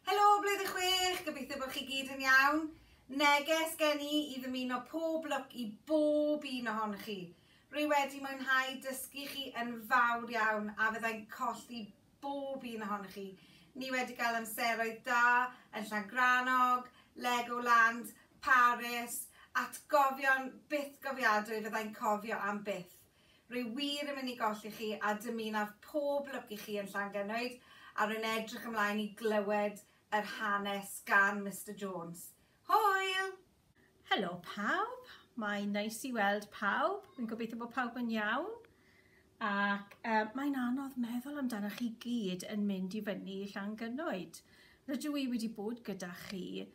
Helo Blwyddyn Chwech, gobeithio bod chi gyd yn iawn. Neges gen i i ddymuno pob lwc i bob un ohonoch chi. Rwy wedi mwynhau dysgu chi yn fawr iawn a fyddai'n colli bob un ohonoch chi. Ni wedi cael amseroedd da yn Llangrannog, Legoland, Paris, atgofion bythgofiadwy fyddai'n cofio am byth. Rwy wir yn mynd i golli chi a dymunaf pob lwc i chi yn Llangynnwyd a rwy'n edrych ymlaen i glywed yr hanes gan Mister Jones. Hwyl! Helo pawb, mae'n neis i weld pawb, fi'n gobeithio bod pawb yn iawn ac yy mae'n anodd meddwl amdanoch chi gyd yn mynd i fyny i Llangynnoed. Rydw i wedi bod gyda chi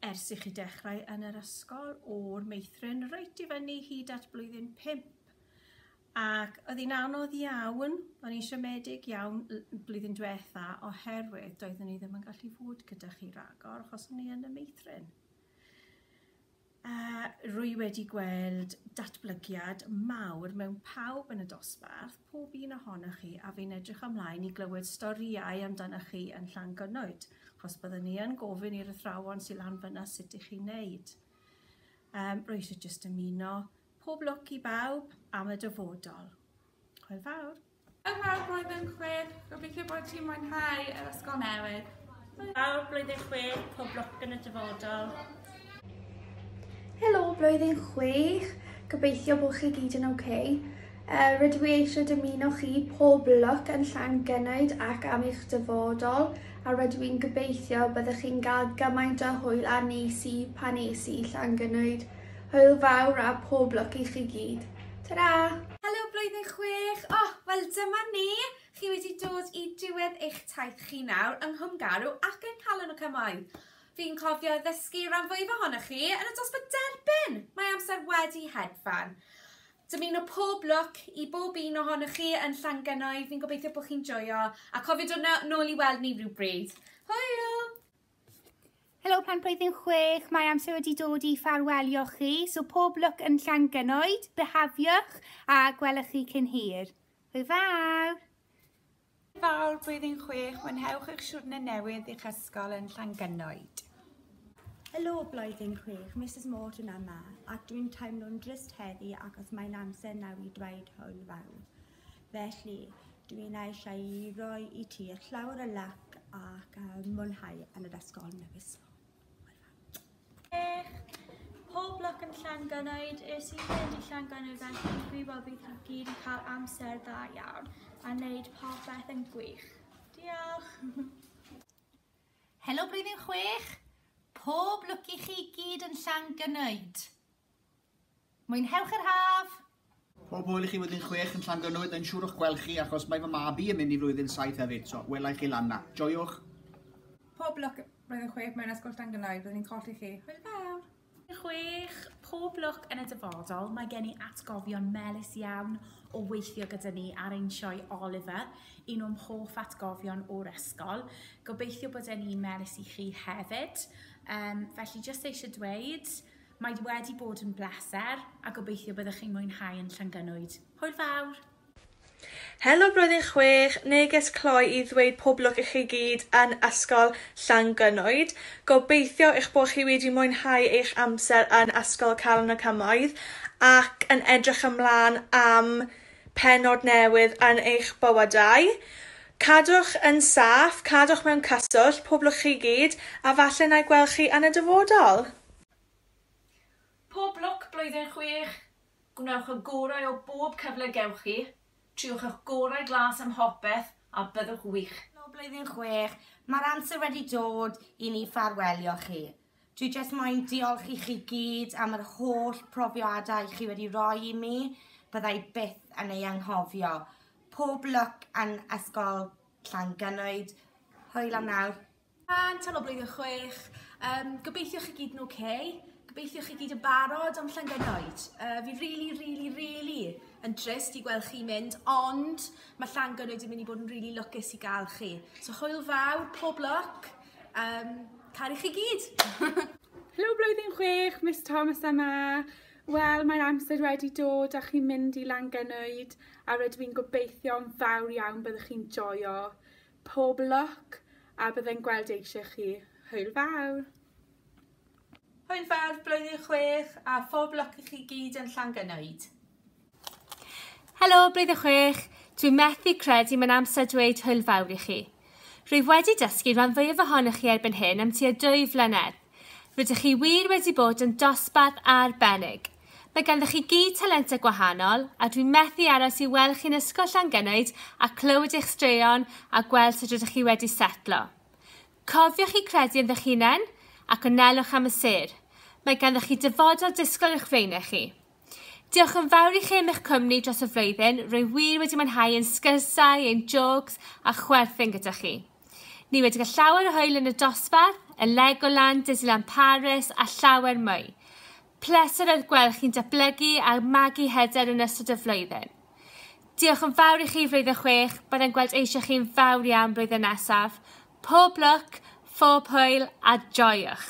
ers i chi dechrau yn yr ysgol o'r meithrin reit i fyny hyd at blwyddyn 5 ac oedd hi'n anodd iawn, o'n i'n siomedig iawn blwyddyn diwetha oherwydd doeddwn i ddim yn gallu fod gyda chi ragor achos o'n i yn y meithrin. Yy rwy wedi gweld datblygiad mawr mewn pawb yn y dosbarth, pob un ohonoch chi, a fi'n edrych ymlaen i glywed storïau amdanoch chi yn Llangynnoed, achos byddwn ni yn gofyn i'r athrawon sy lan fynna sut i chi'n neud. Yym rwy eisiau jyst ymuno, pob lwc i bawb am y dyfodol. Hwyl fawr. Yn fawr blwyddyn chwith, gobeithio bod ti'n mwynhau yr ysgol newydd. Fawr blwyddyn chwith, pob lwc yn y dyfodol. Helo, blwyddyn chwith, gobeithio bod chi gyd yn oce. Okay. Uh, rydw i eisiau dymuno chi pob lwc yn llan gynnwyd ac am eich dyfodol a rydw i'n gobeithio byddwch chi'n cael gymaint o hwyl a nes i pan nes i llan gynnwyd. Hwyl fawr a pob lwc i chi gyd. Ta-ra! Helo blwyddyn chwech! O, wel dyma ni! Chi wedi dod i diwedd eich taith chi nawr yng Nghwm Garw ac yng Nghalon y Cymoedd. Fi'n cofio ddysgu ran fwyaf ohonoch chi yn y dosbarth derbyn! Mae amser wedi hedfan. Dymuno pob lwc i bob un ohonoch chi yn Llangynoedd, fi'n gobeithio bod chi'n joio a cofio dod nôl i weld ni rhywbryd. Hwyl! Helo Plant Blwyddyn Chwech, mae amser wedi dod i ffarwelio chi, so pob lwc yn Llangynoed, byhafiwch a gwelwch chi cyn hir. Hwyl fawr! Fawr Blwyddyn Chwech, mwynhewch eich siwrne newydd i'ch ysgol yn Llangynoed. Helo Blwyddyn Chwech, Misus Morton yma, ac dwi'n teimlo'n drist heddi achos mae'n amser nawr i dweud hwyl fawr. Felly, dw i'n eisiau i roi i ti llawr y lac ac a mwynhau yn yr ysgol newydd. Pob lwc yn Llangynoed, es i fynd i Llangynoed felly fi'n gwybod bydd chi gyd yn cael amser dda iawn a wneud popeth yn gwych. Diolch! Helo blwyddyn chwech! Pob lwc i chi gyd yn Llangynoed! Mwynhewch yr haf! Pob hwyl i chi flwyddyn chwech yn Llangynnwyd, yn siŵr o'ch gweld chi achos mae fy mab i yn mynd i flwyddyn saith hefyd, so wela i chi lan 'na. Joiwch! Pob lwc flwyddyn chwech mewn ysgol Llangynnwyd, byddwn ni'n colli chi. Hwyl fawr! Blwyddyn chwech, pob lwc yn y dyfodol, mae gen i atgofion melys iawn o weithio gyda ni ar ein sioe Oliver, un o'm hoff atgofion o'r ysgol. Gobeithio bod e'n un melys i chi hefyd. Yym, felly jyst eisiau dweud, Mae wedi bod yn bleser a gobeithio byddwch chi'n mwynhau yn Llangynwyd. Hwyl fawr! Helo Blwyddyn Chwech, neges cloi i ddweud pob lwc i chi gyd yn Ysgol Llangynwyd. Gobeithio eich bod chi wedi mwynhau eich amser yn Ysgol Calon y Cymoedd ac yn edrych ymlaen am pennod newydd yn eich bywydau. Cadwch yn saff, cadwch mewn cyswllt, pob lwc chi gyd, a falle na i gweld chi yn y dyfodol! Pob lwc blwyddyn chwech! Gwnewch y gorau o bob cyfle gewch chi, triwch ych gorau glas ym mhopeth a byddwch wych! Helo blwyddyn chwech, mae'r amser wedi dod i ni ffarwelio chi. Dwi jyst moyn diolch i chi gyd am yr holl profiadau chi wedi roi i mi, bydda i byth yn ei anghofio. Pob lwc yn Ysgol Llangynwyd. Hwyl am nawr. Rhan tan o blwyddyn chwech. Yym gobeithio chi gyd yn ok. Gobeithio chi gyd yn barod am Llangynoed. Yy fi rili rili rili yn trist i gweld chi mynd ond mae Llangynoed yn mynd i bod yn rili lwcus i gael chi. So hwyl fawr, pob lwc. Yym caru chi gyd. Helo blwyddyn chwech, Miss Thomas yma. Wel mae'r amser wedi dod a chi'n mynd i Langynoed a rydw i'n gobeithio'n fawr iawn byddwch chi'n joio. Pob lwc a byddai'n gweld eisiau chi. Hwyl fawr! Hwyl fawr blwyddyn chwech a phob lwc i chi gyd yn Llangynoed. Helo blwyddyn chwech, dwi'n methu credu mae'n amser dweud hwyl fawr i chi. Rwyf wedi dysgu rhan fwyaf ohonoch chi erbyn hyn am tua dwy flynedd. Rydych chi wir wedi bod yn dosbarth arbennig. Mae ganddoch chi gyd talentau gwahanol a dwi'n methu aros i weld chi'n Ysgol Llangynaid a clywed eich straeon a gweld sut rydych chi wedi setlo. Cofiwch i credu ynddo'ch hunain ac anelwch am y sêr. Mae ganddoch chi dyfodol disgwyl i'ch flaenau chi. Diolch yn fawr i chi am eich cwmni dros y flwyddyn, rwy wir wedi mwynhau ein sgyrsiau, ein jôcs a chwerthin gyda chi. Ni wedi cael llawer o hwyl yn y dosbarth, y Legoland, Disneyland Paris a llawer mwy. Pleser oedd gweld chi'n datblygu a magu hyder yn ystod y flwyddyn. Diolch yn fawr i chi flwyddyn chwech, byddai'n gweld eisiau chi'n fawr iawn blwyddyn nesaf. Pob lwc, phob hwyl a joiwch!